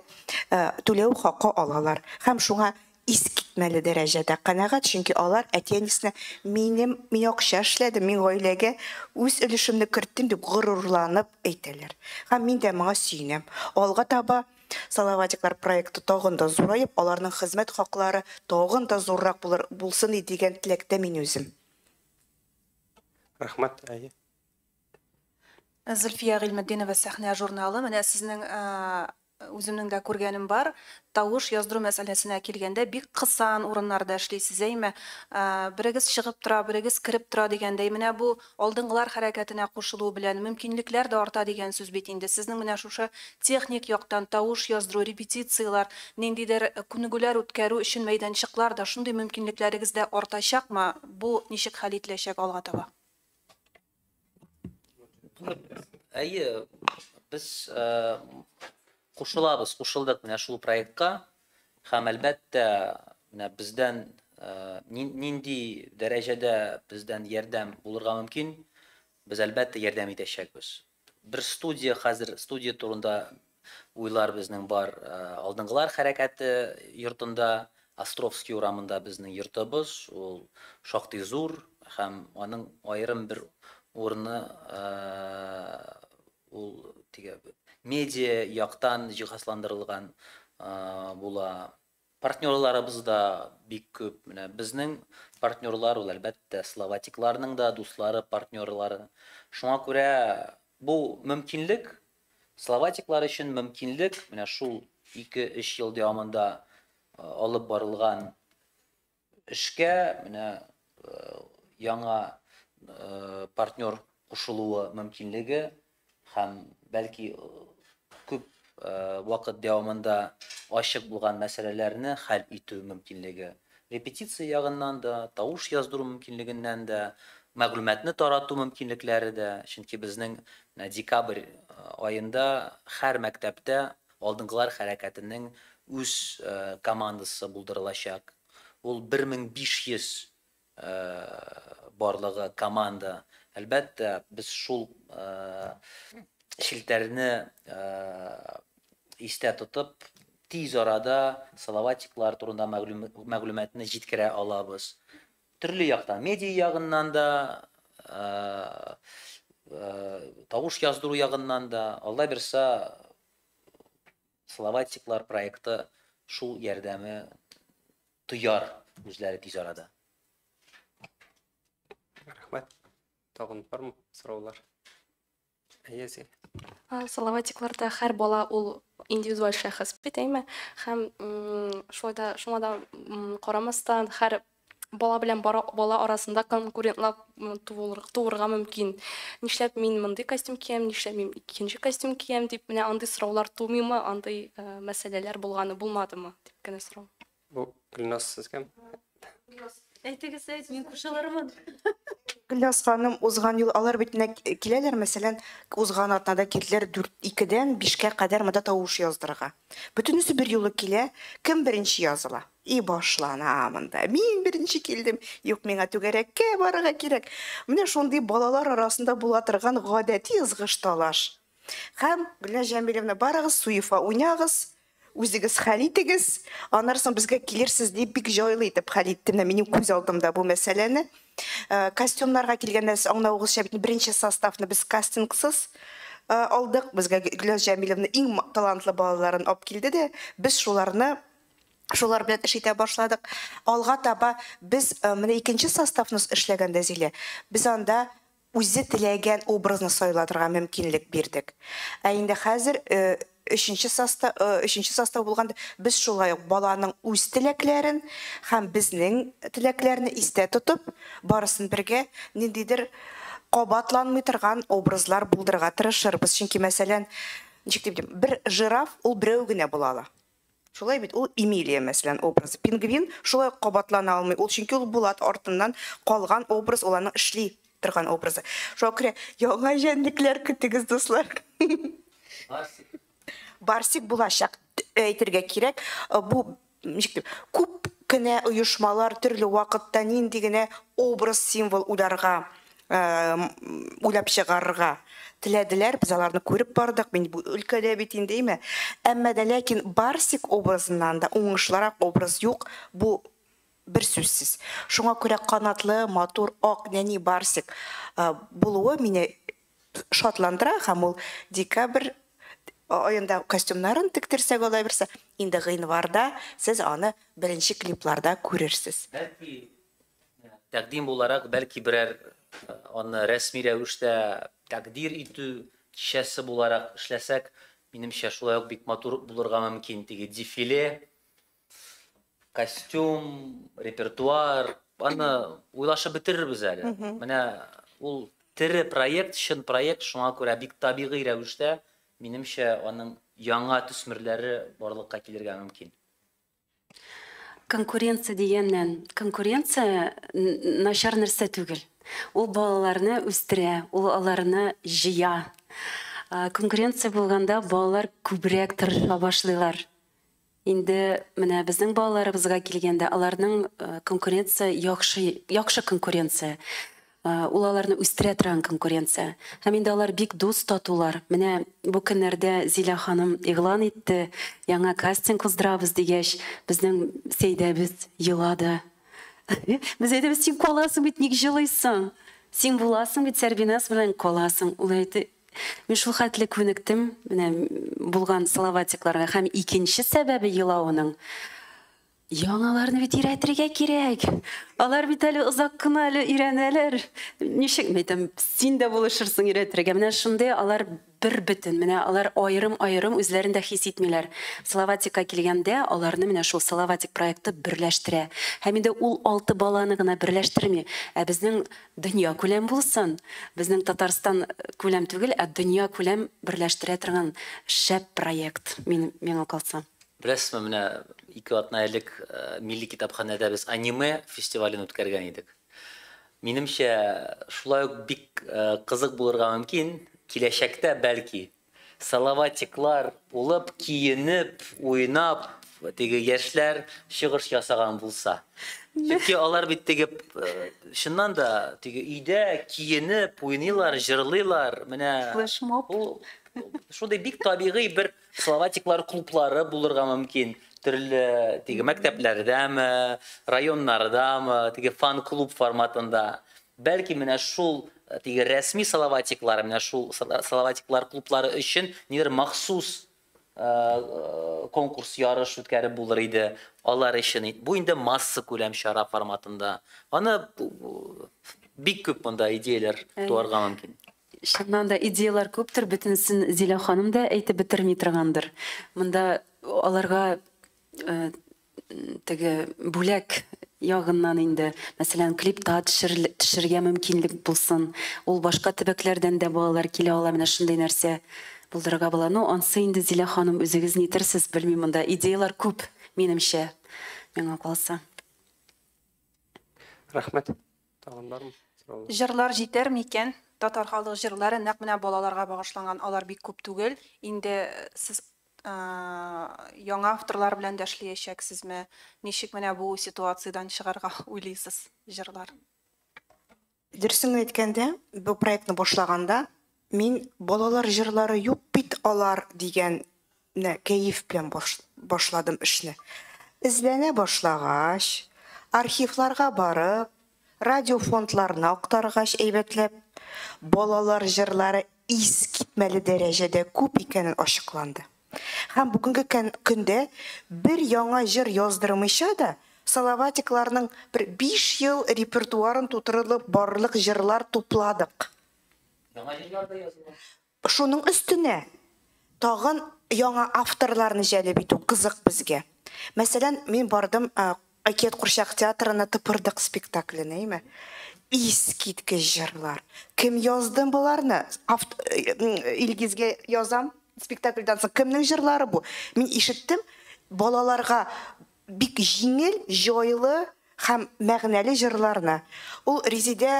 S4: түләү хакы алалар. Һәм шуңа искитмәле дәрәҗәдә канәгать, чөнки алар әти-әнисенә минем, мин акча эшләдем, мин гаиләгә үз өлешемне керттем дип горурланып әйтәләр. Һәм мин дә моңа сөенәм. Алга таба Салаватиклар проекты тагын да зураеп, аларның хезмәт хаклары тагын да зуррак булыр, булсын иде дигән теләктә мин үзем.
S1: Рәхмәт, әйе.
S8: Зөлфия Гыйльметдинова, Сәхнә журналы. Менә сезнең үземнең дә күргәнем бар. Тавыш яздыру мәсьәләсенә килгәндә, бик кысан урыннарда эшлисез, әйме? Берегез чыгып тора, берегез кереп тора дигәндәй. Менә бу Алдынгылар хәрәкәтенә кушылу белән мөмкинлекләр дә арта дигән сүз бит инде. Сезнең менә шушы техник яктан, тавыш яздыру, репетицияләр, ниндидер күнегүләр үткәрү өчен мәйданчыклар да, шундый мөмкинлекләрегез дә артачакмы? Бу ничек хәл ителәчәк алга таба?
S3: Әйе, без кушылабыз, кушылдык менә шул проектка. Һәм, әлбәттә, менә бездән нинди дәрәҗәдә бездән ярдәм булырга мөмкин, без, әлбәттә, ярдәм итәчәкбез. Бер студия хәзер, студия турында уйлар безнең бар. Алдынгылар хәрәкәте йортында, Островский урамында безнең йортыбыз, ул шактый зур һәм аның аерым бер урыны Ул теге медиа яктан җиһазландырылган була. Партнерларыбыз да бик күп. Менә безнең партнерлар ул әлбәттә словатикларның да дуслары, партнерлары. Шуңа күрә бу мөмкинлек словатиклар өчен мөмкинлек менә шул 2-3 ел дәвамында алып барылган Эшкә менә яңа партнер кушылуы мөмкинлеге һәм бәлки күп вакыт дәвамында ачык булган мәсьәләләрне хәл итү мөмкинлеге, репетиция ягыннан да, тавыш яздыру мөмкинлегеннән дә, мәгълүматны тарату мөмкинлекләре дә, чөнки безнең декабрь аенда һәр мәктәптә Алдынгылар хәрәкәтенең үз командасы булдырылачак. Ул 1500 барлыгы команда. Әлбәттә, без шул челтәрне истә тотып, тиз арада Салаватиклар турында мәгълүматны җиткерә алабыз. Төрле яктан, медиа ягыннан да, тавыш яздыру ягыннан да, Алла бирса, Словатиклар проекты шул ярдәме тояр үзләре тиз арада.
S1: Рәхмәт. Тагын бармы сораулар? Әйе,
S7: Салаватикларда һәр бала ул индивидуаль шәхес бит, әйме? Һәм шулай да шуңа да карамастан һәр бала белән бала арасында конкурентлар туырга мөмкин. Нишләп мин мондый костюм киям, нишләп мин икенче костюм киям дип, менә андый сораулар тумыймы, андый мәсьәләләр булганы булмадымы дип кенә сорау. Бу Гөлназ
S1: сез кем?
S5: Әйтегез, әйт, мин кушылырмын. Гөлназ
S4: ханым, узган ел алар бит нәкъ киләләр, мәсәлән, узган атнада килделәр 4-2-дән 5-кә кадәр монда тавыш яздырырга. Бөтенесе бер юлы килә, кем беренче языла? И башлана монда. Мин беренче килдем. Юк, миңа түгәрәккә барырга кирәк. Менә шундый балалар арасында була торган гадәти ызгыш талаш. Һәм Гөлназ Җәмилевна, барыгыз Суефа уйнагыз. Үзегез хәл итегез, аннары соң безгә килерсез, дип, бик җайлы итеп хәл итте менә минем күз алдымда бу мәсьәләне. Костюмнарга килгәндә, сез аңлавыгызча бит, беренче составны без кастингсыз алдык. Безгә Гөлназ Җәмиловна иң талантлы балаларын алып килде дә, без шуларны, шулар белән эш итә башладык. Алга таба без менә икенче составны эшләгәндә, Зилә, без анда, үзе теләгән образны сайлатырга мөмкинлек бирдек. Ә инде хәзер өченче соста, өченче состав булганда, без шулай ук баланың үз теләкләрен һәм безнең теләкләрне истә тотып, барысын бергә ниндидер кабатланмый торган образлар булдырырга тырышырбыз. Чөнки, мәсәлән, ничек дип әйтим, бер жираф, ул берәү генә була ала. Шулай бит ул Эмилия, мәсәлән, образы. Пингвин шулай ук кабатлана алмый ул, чөнки ул Булат артыннан калган образ, ул аның эшли торган образы. Шуңа күрә яңа җәнлекләр көтегез, дуслар. Барсик. Барсик булачак әйтергә кирәк. Бу ничек дип, күп кенә оешмалар төрле вакытта нинди генә образ, символ уйларга уйлап чыгарырга теләделәр, без аларны күреп бардык, мин бу өлкәдә бит инде, әйме. Әмма дә ләкин Барсик образыннан да уңышлырак образ юк, бу бер сүзсез. Шуңа күрә канатлы, матур, ак нәни Барсик булуы мине шатландыра һәм ул декабрь аенда костюмнарын тектерсәк алай берсе, инде гыйнварда сез аны беренче клипларда күрерсез.
S3: Тәкъдим буларак, бәлки берәр аны рәсми рәвештә тәкъдир итү кичәсе буларак эшләсәк, минемчә, шулай ук бик матур булырга мөмкин. Теге дефиле, костюм, репертуар, аны уйлашып бетерербез әле. Менә ул тере проект, чын проект, шуңа күрә бик табигый рәвештә, минемчә, аның яңа төсмерләре барлыкка килергә мөмкин.
S5: Конкуренция дигәннән, конкуренция начар нәрсә түгел. Ул балаларны үстерә, ул аларны җыя. Конкуренция булганда балалар күбрәк тырыша башлыйлар. Инде менә безнең балаларыбызга килгәндә, аларның конкуренция яхшы, яхшы конкуренция. Ул аларны үстерә торган конкуренция. Һәм инде алар бик дус, татулар. Менә бу көннәрдә Зилә ханым игълан итте, яңа кастинг уздырабыз дигәч, безнең Сәйдәбез елады. Без әйтәбез, син каласың бит, ник җылыйсың? Син буласың бит, Сәрбиназ белән каласың. Ул әйтте, мин шул хәтле күнектем, менә булган салаватикларга. Һәм икенче сәбәбе елавының, Яңаларны бит өйрәтергә кирәк. Алар бит әле озак кына әле өйрәнәләр. Ничек мәйтәм, син дә булышырсың өйрәтергә. Менә шундый алар бер бөтен. Менә алар аерым-аерым үзләрен дә хис итмиләр. Салаватикка килгәндә, аларны менә шул Салаватик проекты берләштерә. Һәм инде ул алты баланы гына берләштерми, ә безнең дөнья күләм булсын, безнең Татарстан күләм түгел, ә дөнья күләм берләштерә торган шәп проект, мин, миңа калса. Беләсезме, менә
S3: ике атна элек Милли китапханәдә без аниме фестивален үткәргән идек. Минемчә, шулай ук бик кызык булырга мөмкин, киләчәктә, бәлки, Салаватиклар булып киенеп, уйнап, теге яшьләр чыгыш ясаган булса. Чөнки алар бит теге, чыннан да, теге өйдә киенеп уйныйлар, җырлыйлар, менә. Флешмоб. Бу шундый бик табигый бер. Словатиклар клублары булырга мөмкин. Төрле теге мәктәпләрдәме, районнардамы, теге фан-клуб форматында. Бәлки менә шул э, теге рәсми словатиклар, менә шул словатиклар клублары өчен нидер махсус э, э, конкурс ярыш үткәреп булыр иде алар өчен. Бу инде масса күләм чара форматында. Аны бик күп монда идеяләр туарга мөмкин. Чыннан да
S5: идеяләр күптер, бөтенесен Зилә ханым да әйтеп бетерми торгандыр. Монда аларга теге бүләк ягыннан инде, мәсәлән, клипта төшергә мөмкинлек булсын. Ул башка төбәкләрдән дә балалар килә ала, менә шундый нәрсә булдырырга була. Ну, ансы инде Зилә ханым үзегез нитерсез, белмим, монда идеяләр күп, минемчә, миңа калса.
S1: Рәхмәт. Тагын бармы сораулар? Җырлар җитәр
S8: микән? Татар халык җырлары нәкъ менә балаларга багышланган, алар бик күп түгел. Инде сез яңа авторлар белән дә эшлиячәксезме? Ничек менә бу ситуациядән чыгарга уйлыйсыз җырлар?
S4: Дөресен әйткәндә, бу проектны башлаганда, Мин балалар җырлары юк бит алар дигән нә кәеф белән башладым эшне. Эзләнә башлагач, архивларга барып, радиофондларны актаргач әйбәтләп, балалар җырлары искитмәле дәрәҗәдә күп икәнен ачыкланды. Һәм бүгенге көндә бер яңа җыр яздырмыйча да, Салаватикларның бер биш ел репертуарын тутырырлык барлык җырлар тупладык. Яңа
S3: җырлар да языла. Шуның өстенә
S4: тагын яңа авторларны җәлеп итү кызык безгә. Мәсәлән, мин бардым Әкият курчак театрына Тыпырдык спектакленә, әйме? Искиткеч җырлар. Кем язды боларны? Илгизгә язам, спектакльдан соң кемнең җырлары бу? Мин ишеттем, балаларга Бик җиңел, җайлы һәм мәгънәле җырларны ул Резидә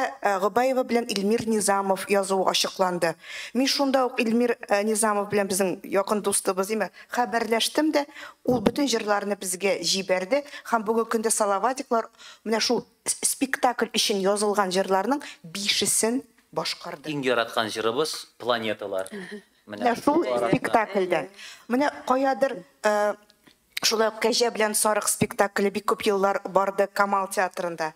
S4: Гобаева белән Илмир Низамов язуы ачыкланды. Мин шунда ук Илмир Низамов белән безнең якын дустыбыз димме, хәбәрләштем дә, ул бөтен җырларны безгә җибәрде һәм бүгенге көндә Салаватиклар менә шул спектакль өчен язылган җырларның бишесен башкарды. Иң яраткан җырыбыз
S3: Планеталар. Менә шул
S4: спектакльдән. Менә каядыр Шулай ук Кәҗә белән сарык спектакле бик күп еллар барды Камал театрында.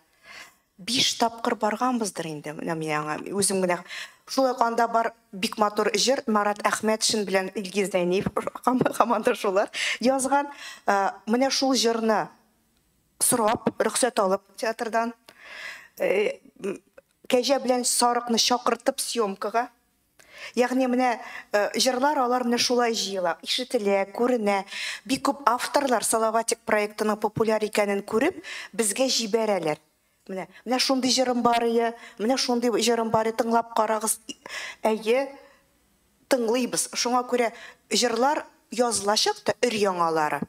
S4: Биш тапкыр барганбыздыр инде, менә мин аңа үзем генә. Шулай ук анда бар бик матур җыр Марат Әхмәтшин белән Илгиз Зәйниев һаман да шулар язган. Менә шул җырны сорап, рөхсәт алып театрдан Кәҗә белән сарыкны чакыртып съемкага Ягъни менә җырлар алар менә шулай җыела, ишетелә, күренә. Бик күп авторлар Салаватик проектының популяр икәнен күреп, безгә җибәрәләр. Менә, менә шундый җырым бар ие, менә шундый җырым бар ие, тыңлап карагыз. Әйе, тыңлыйбыз. Шуңа күрә җырлар язылачак та өр-яңалары.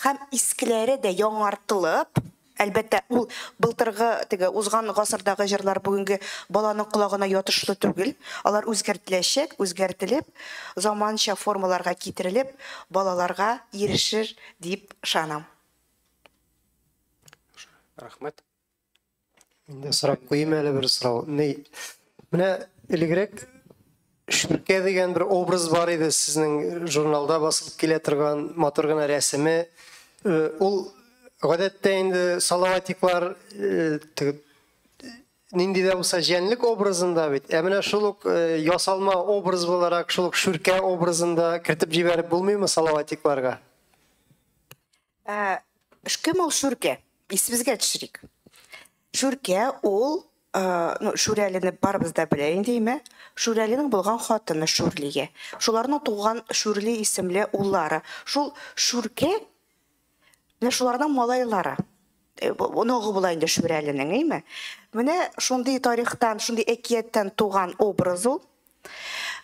S4: Һәм искеләре дә яңартылып, Әлбәттә, ул былтыргы, теге узган гасырдагы җырлар бүгенге баланың колагына ятышлы түгел. Алар үзгәртеләчәк, үзгәртелеп, заманча формаларга китерелеп, балаларга ирешер дип ышанам.
S1: Рәхмәт.
S9: Мин дә сорап куйыйм әле бер сорау. Менә элегрәк Ширкә дигән бер образ бар иде сезнең журналда басылып килә торган матур гына рәсеме. Ул гадәттә инде салаватиклар нинди дә булса җәнлек образында бит. Ә менә шул ук ясалма образ буларак шул ук шүркә образында кертеп җибәреп булмыймы салаватикларга? Ә
S4: кем ул Шүркә? Исебезгә төшерик. Шүркә ул, ну, Шүрәлине барыбыз да белә инде, әйме? Шүрәлинең булган хатыны Шүрлия. Шуларның туган Шүрли исемле уллары. Шул Шүркә менә шуларның малайлары. Э, оныгы була инде Шүрәленең, әйме? Менә шундый тарихтан, шундый әкияттән туган образ ул.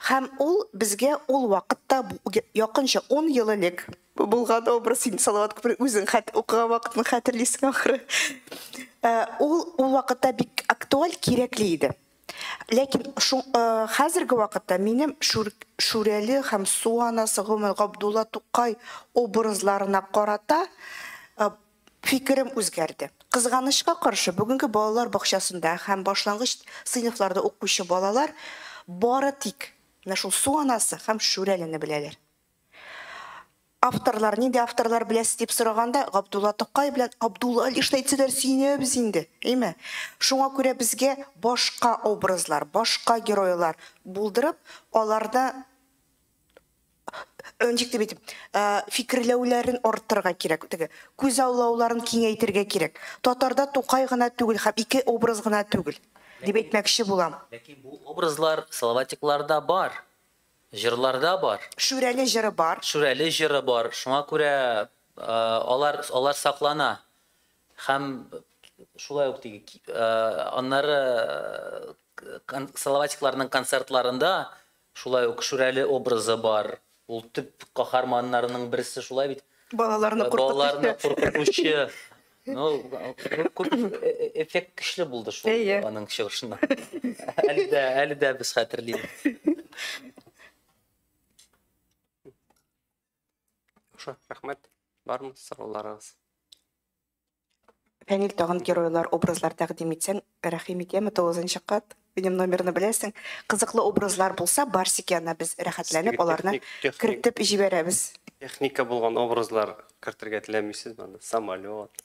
S4: Һәм ул безгә ул вакытта якынча 10 ел элек булган образ син Салават күпер үзең хәт укыган вакытны хәтерлисең ахры. Э, ул ул вакытта бик актуаль, кирәкле иде. Ләкин э, хәзерге вакытта минем Шүрәле һәм Суанасы Гомер Габдулла Тукай образларына карата Фикерем үзгәрде. Кызганычка каршы, бүгенге балалар бакчасында һәм башлангыч сыйныфларда укучы балалар бары тик менә шул Су анасы һәм Шүрәлене беләләр. Авторлар, нинди авторлар беләсез дип сораганда, Габдулла Тукай белән Абдулла Алишны әйтсәләр, сөенәбез инде, әйме? Шуңа күрә безгә башка образлар, башка геройлар булдырып, аларны ничек дип әйтим, фикерләүләрен арттырырга кирәк, теге күзаллауларын киңәйтергә кирәк. Татарда Тукай гына түгел һәм ике образ гына түгел, дип әйтмәкче булам. Ләкин бу образлар
S3: Салаватикларда бар, җырларда бар. Шүрәле җыры бар.
S4: Шүрәле җыры бар.
S3: Шуңа күрә алар, алар саклана. Һәм шулай ук теге, аннары Салаватикларның концертларында Шулай ук Шүрәле образы бар. Ул төп каһарманнарының берсе шулай бит. Балаларны куркытучы.
S4: Балаларны куркытучы.
S3: Ну, күп эффект көчле булды шул аның чыгышында. Әле дә, әле дә без хәтерлибез. Яхшы,
S1: рәхмәт. Бармы сорауларыгыз?
S4: Фәнил тагын геройлар, образлар тәкъдим итсәң, рәхим итәме тулызынча кат? Минем номерны беләсең. Кызыклы образлар булса, Барсик янына без рәхәтләнеп аларны кертеп җибәрәбез. Техника булган
S1: образлар кертергә теләмисезме анда? Самолет.